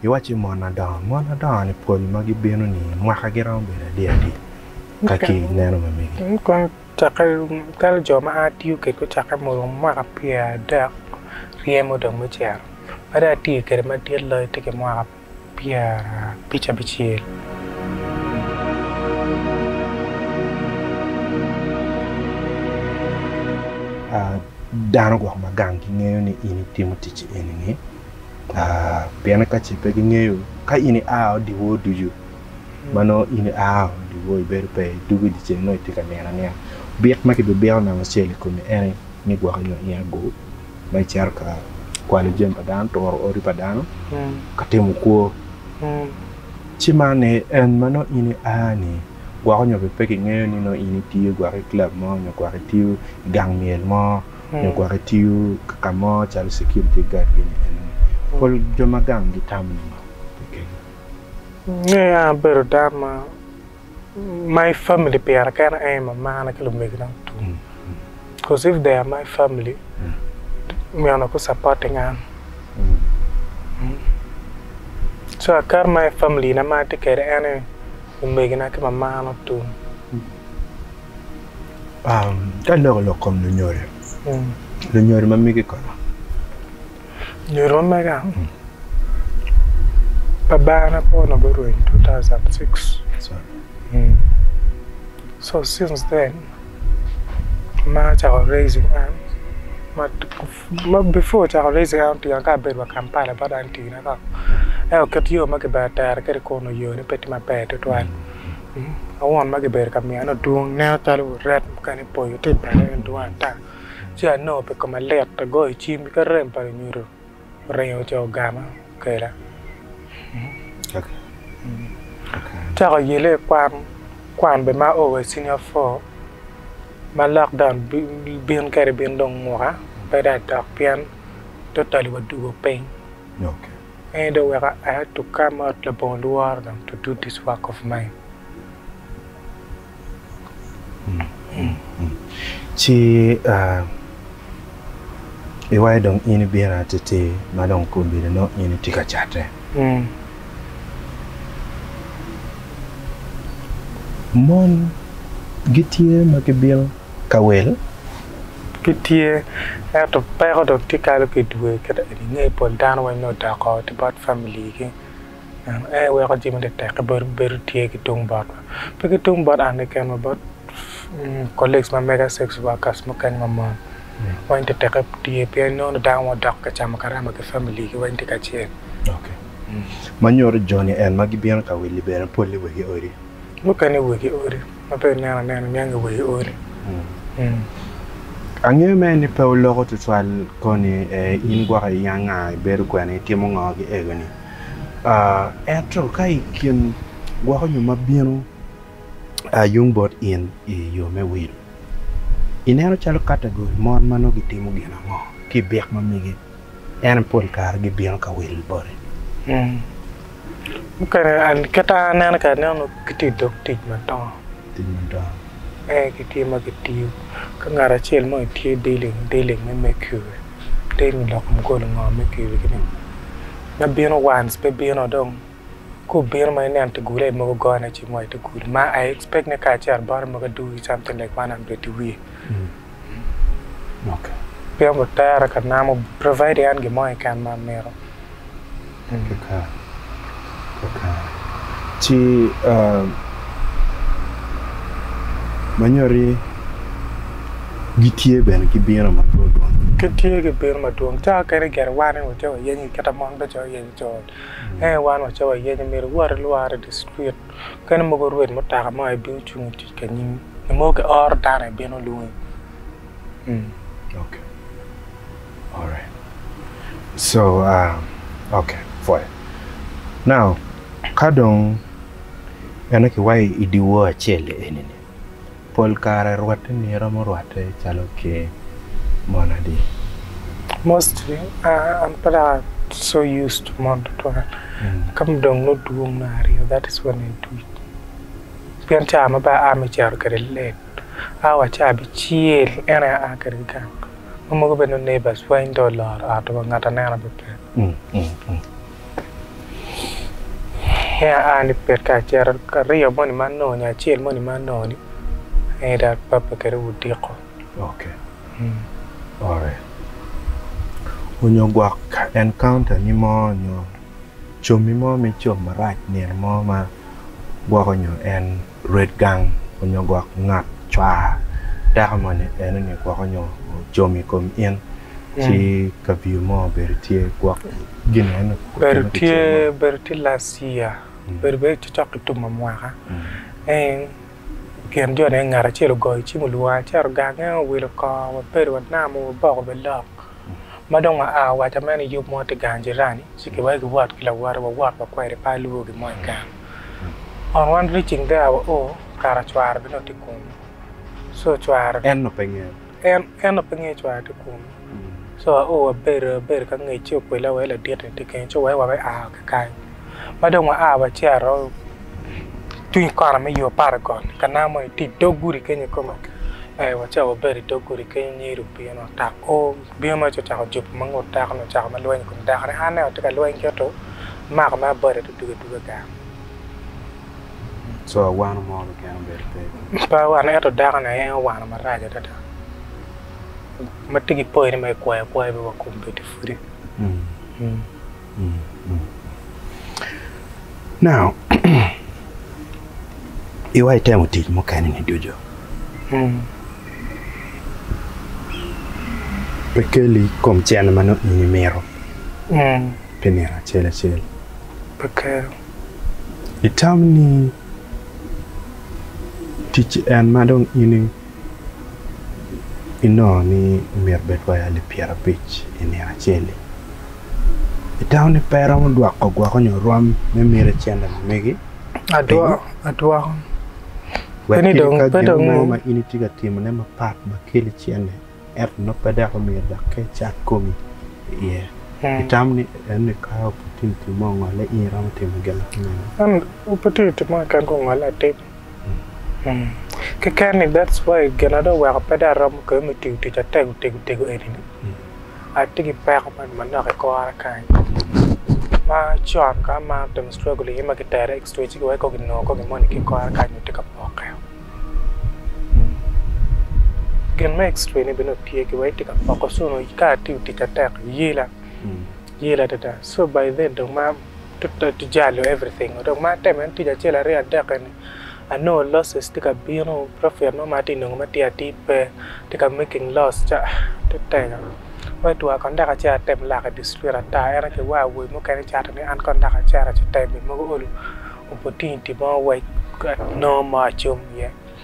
Iwacci mon adongo, mon adongo ni pol ma gibino ni mwaka giromo bedo adi adi ka ki neno ma mege? Kong cakke kadi jo ma a tiyo kwedgi ocakke ma orumo mwaka pyer adek ryemo dong me cito ma dong atye kwede madit loyo tye ki mwaka pyer abic abicel. Dano gwok ma gang gingeyo ni in itimo ticci eni-ni, pien ka ce pe gingeyo, ka in ia odiwor ducu, ma nongo in ia odiwor ibedo pe i dugu i dyeceng nongo itye ka nino anina. Byek ma kibibiko namba acel i komi en aye ni gwok inyo ina go ma icito ka kwalo jami pa dano, turo odi pa dano, ka timo kwo. Ci man aye en ma nongo in ia-ni. gwoko nyo bene pe kingeyo ni nongo in itiyo gwok i club mo nyo gwok itiyo i gang myel mo nyo gwok itiyo ka mo calo security guard gin ni enoni pol jo ma gang gitamo nongo keken. Nge an abedo dano ma my family pira kena aye mamana ki lumegina mutum coz if they are my family meno ku supporting an so I carry my family na ma atye kede en aye Omegina ki mamano tum. Ka aloko lok kom lunyodo, lunyodo ma mege kono? Lunyodo ma mega? Pa Barna Pono guruwo in 2006. So since then ma acako raising an ma Before ocako race en otiyo ka abedo wa Kampala bot an tii na kong ento kit yo ma kibene tero kwede kun nongo yone pe tye maber tutwal awon ma kibedo ka myane odwong ineno calo ret mukene boco tye i pale en dwong ata ci anongo pi koma lit agoyo cim ki rem pa lunyodo oringo ocoo ogama. kweda. Acako yelle i kwan, kwan be ma o wa i senior four ma lockdown bin kwede bin dong muka pe dong adok pien totally wa dugo piny. Ento dong weka I had to come out labongo lworo dong to do this work of mine. Ci iwaco dong in ibino atir ma dong obedo nongo in itye ka cate. Mon gitye ma gibino ka wel? Gitye, ento peko dong tye kalo ki dwe. Kit ma ingeyo pol dano weng nongo odoko ki bot familigi. Ento en weko jami tetek ki bedo tye ki tung bot wa. Pe ki tung bot an keken wa bot colleagues ma mega, sex workers mukene ma mon. Weng tetekke tye pien inongo ni dano ma odok ka camo karama ki family gi weng tye kacel. Ma nyuto joni en ma gibino ka wil-li bene pol-li wegi odi? Mukene wegi odi, ma pe ineno anena niangi wegi odi. Angeyo mere ni pe oloko tutwal koni in gwoko i yanga ibedo kwene, itimo ngo ki ego ni? Ento ka i kin gwoko nyo ma bino yung bot in i yo me wil, ineno calo kategori mon ma nongo gitimo gin ango ki i byek ma migi? En pol kare gibino ka wil boti. Mukene kit ma aneno kwede aneno gitye i dog tic madongo. Tic madongo. Ee gitye ma gitiyo ki ngat acel mo itye dealing dealing me mercury, dealing loko mugolo ngo mercury kine Me bino once pe bino dong ka obino ma ineno te gule mogo gone i cing wai te gul ma I expect ni kacito bottom mogo adugi something like one hundred i wiye Okay. pien obut tere ka namo provide an gin mo keken ma amito. Kaka kaka ci ah, manyodi. Gitye bene ki bino madwodwon. Gitye ki bino madwong. Cawa kene i gene wan ni wace wayenyo kit ma mon bedo calo wayenyo col. Ento wan wace wayenyo myero iwot ilwar i di citwit mukene mogo orwed mutoka mo aye bino cung itic ka nyimi. Nyo mogo ki oro dano aye bino lwongi. Okay. Alright. So, uh, okay, pwoya. Now, ka dong bene kiwayo i di wor acel-li eni-ni, pol kare rwate ni iromo rwate calo ker mon adi? Mostly an pe dok a so used to mon tutwal ka ma dong nongo dwong me aryo that is when I do it pien cawa ma bene aa me cito kwede late a wa ci abicel en aye aa kwede gang ma mogo bene nongo neighbors wa in dong oloro ot wa ngat anena bene pe. Nia aa ni pet kar acito aryo moni ma anongo nyo acel moni ma anongo ni aye dok apape kwede odiko. Ok. Mm. Ore. Onyo gwok encounter ni mo onyo comi mo me com marac nino mo ma gwoko nyo en Ret gang onyo gwok ngat cwar teko moni en onyo gwok onyo ocomo i kom in ci kaviyo mo obedo tye gwok gin ni en okutime ki cen mo. Obedo tye last year obedo bene cok ki tum amwaka en i kin jo ne ngat acel ogoyo cim olwonga aceto gang en aye owilo kor wa bedo wa namo wa boko bene lok ma dong wa a wa waco ameno yub mo tye gang jirani ci kiweko kiwot ki lawote wa wot wa kwede pe alwongo gin mo i gang. On one reaching there our o kara cwara bene o tye kunu so cwara. En no pe ngeyo. En en no pe ngeyo cwara tye kunu so our o wabedo abedo ka ngec ci okwele awa ladit ni tye kene ci wek wa be aa wa ki kany ma dong wa aa wa cito tung kona me yo apar i got ka nanga moni tye idog gudi kenyo kome ee wacawa wabedo idog gudi kenyo nyedo obino tak o. Bino ma ci ocako jubo ma ngut dako-ni ocako ma lweny i kom dako ni, Anne watye ka lweny ki oto, imako ma abade ati duge duge gang. Co awano mo keken obedo pe ki. Pe awano ento dako ni aye owano marac adada ma tye ki poyo ni ma ikwayo akwaya pe wa kombeddi pwodi. Now iwa itemo tic mukene ni ducu pe keli kom cene ma nongo in imito pi nino acel acel pe kelo itam ni tic en ma dong in inongo ni myero bed wa i alip pyera abic i nino acel-li i taun-ni pe iromo dwoko gwok nyo rwom me miti cente ma megi pingo? wek kadi ka gin mo ma in itye ka timone mapat ma keli cente ento nongo pe dok omyero dok ka icat komi iye itamo ni enoni ka opotituti mo ongole in iromo timo gin ma tye mene? Keken ni that's why gin ma dong oweko pe dong aromo kwede me tiyo tic atego tego tego eni ni atye ki peko ma manok i kora kany ma con ka amaro timo struggle iye ma kitera i extra ci weko kinongo kong gin moni ki kora kany ma tye ka pokke o gin me extra ni bene dong tye ki wai tye ka poko cone ka atiyo tic atek yela yela adada so by then dong ma jalo everything dok ma atemo en tic acel aryo adek eni anongo losses tye ka bino profit mo ma atye ka nongo atir atir pe atye ka making loss ca te tego wai twaa kon dok acito atem lok i district ata en aye ki war awobi mukene cato ni an kong dok acito ci tem i mogo olo opportunity mo wec nongo mo acung iye.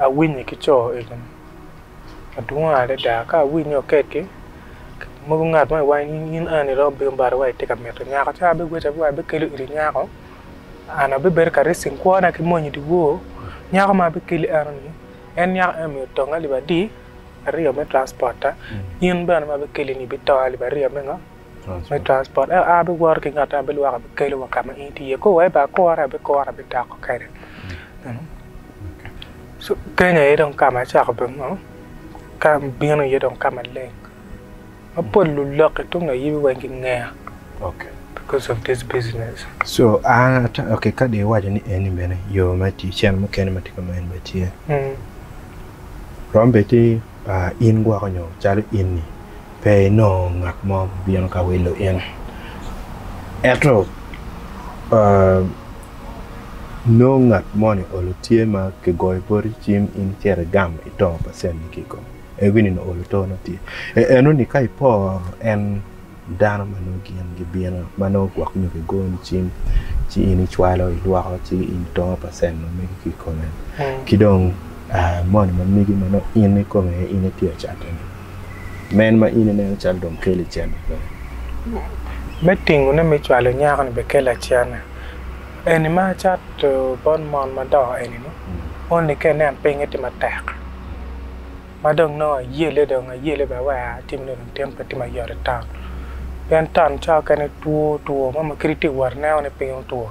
awinye ki co egini madwong adada ka awinyo kekki mogo ngat mo iwang in ange ni romo bino bati wa itye ka mito nyako ci abi goca wa abikelo iti nyako an abibedo ka ricing kwona ki mony idye wor nyako ma abikeli enoni en nyako eni omiyo otong alip adi aryo me transpota in bene ma abikeli-ni ibitong alip aryo me ngo me transport ento an abiwoto ki ngat ma bilwoko abikelo wa ka ma in itye iye kor wa bene akore abikore abidoko kwede Kenya aye dong ka ma acako bino iye dong ka maleng ma pol luloki tung ayibi weng gingeya because of this business. So an ka dong iwaco ni eni bene yo me tic cen mukene ma tye kama eni bene tye rom bed ki in gwoko nyo calo in-ni. Pe inongo ngat mo bino ka wilo in. Ento nongo ngat moni olo tye ma kigoyo poti cim in cito igam ito pa cente ki i kom en winy onongo olo to ne tye. Enoni ka iporo en dano ma nongo gin gibino ma nongo gwok nyo kigoni cim ci in icwalo ilwoko ci in ito pa cent ma mege ki i kome. Ki dong moni ma mege ma nongo in ikome aye in itye ka catone. Men ma in ineno calo dong keli cente pe. Me tingone me cwalo nyako-ni bene kela cente. Eni ma acato bot mon madongo eni-ni, only ka inen pinye tye matek ma dong nongo ayele dong ayele bene wek atim nongo dong tin pe tye mayot i taun. Pien taun cawa mukene two two mo ma kadi itye ka wot ineno ni piny otwo.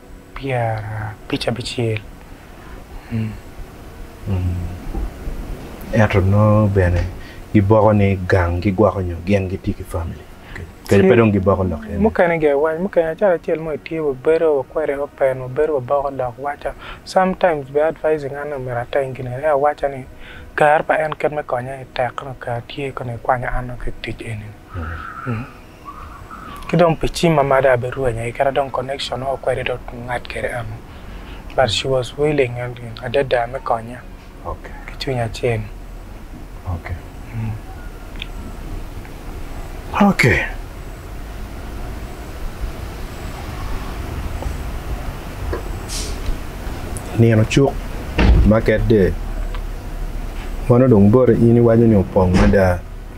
pyerabicabicel. Ento nongo bene giboko ni gang gigwoko nyo gin gitye ki famili kadi pe dong giboko lok eni. Mukene ga iwac mukene acalo acel mo itye wa bedo wa kwede open wa bedo wa boko lok waca some times bene advising an omyero ateng gin eni awaca ni kare pa en kit me konya aye tek nongo kare tye kong ikwanyo an nongo ki itic eni ni. ki dong pi cim ma mada aye birwenya aye kit ma dong connection mo kwede dong otum ngat kwede eno but she was willing adada me konya ki cwiny acel. Nino cuk market day meno dong boti in iwaco ni opong mada.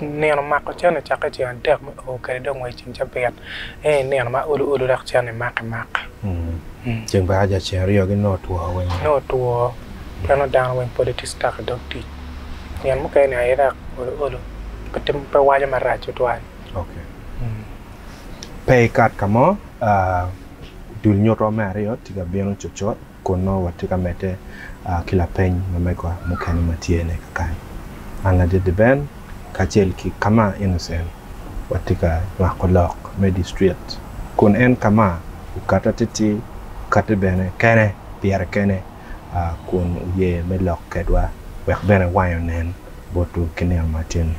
Nino mako cen ecako i ceng adek me oo kede dong wa i ceng cabit ento i nino ma olu olu dok cen ni maki maki. Ceng pa aja ceng aryo gi nongo two weng oo. Nongo two pien nongo dano weng pole tye stuck i dog tic nino mukene ni aye dok olu olu pe waco marac tutwal. Okay pe ikat kamo dul nyuto me aryo tye ka bino cucut. Kun nongo watye ka medde ki lapeny ma megwa mukene ma tye ne kakan. An Ladede Ben kacel ki Kama Innocent watye ka nywako lok me district kun en Kama okatte atir-tir, okatte bene kene pire kene kun oye me lok kedwa wek bene wange onen botwu ki nino ma tye ni.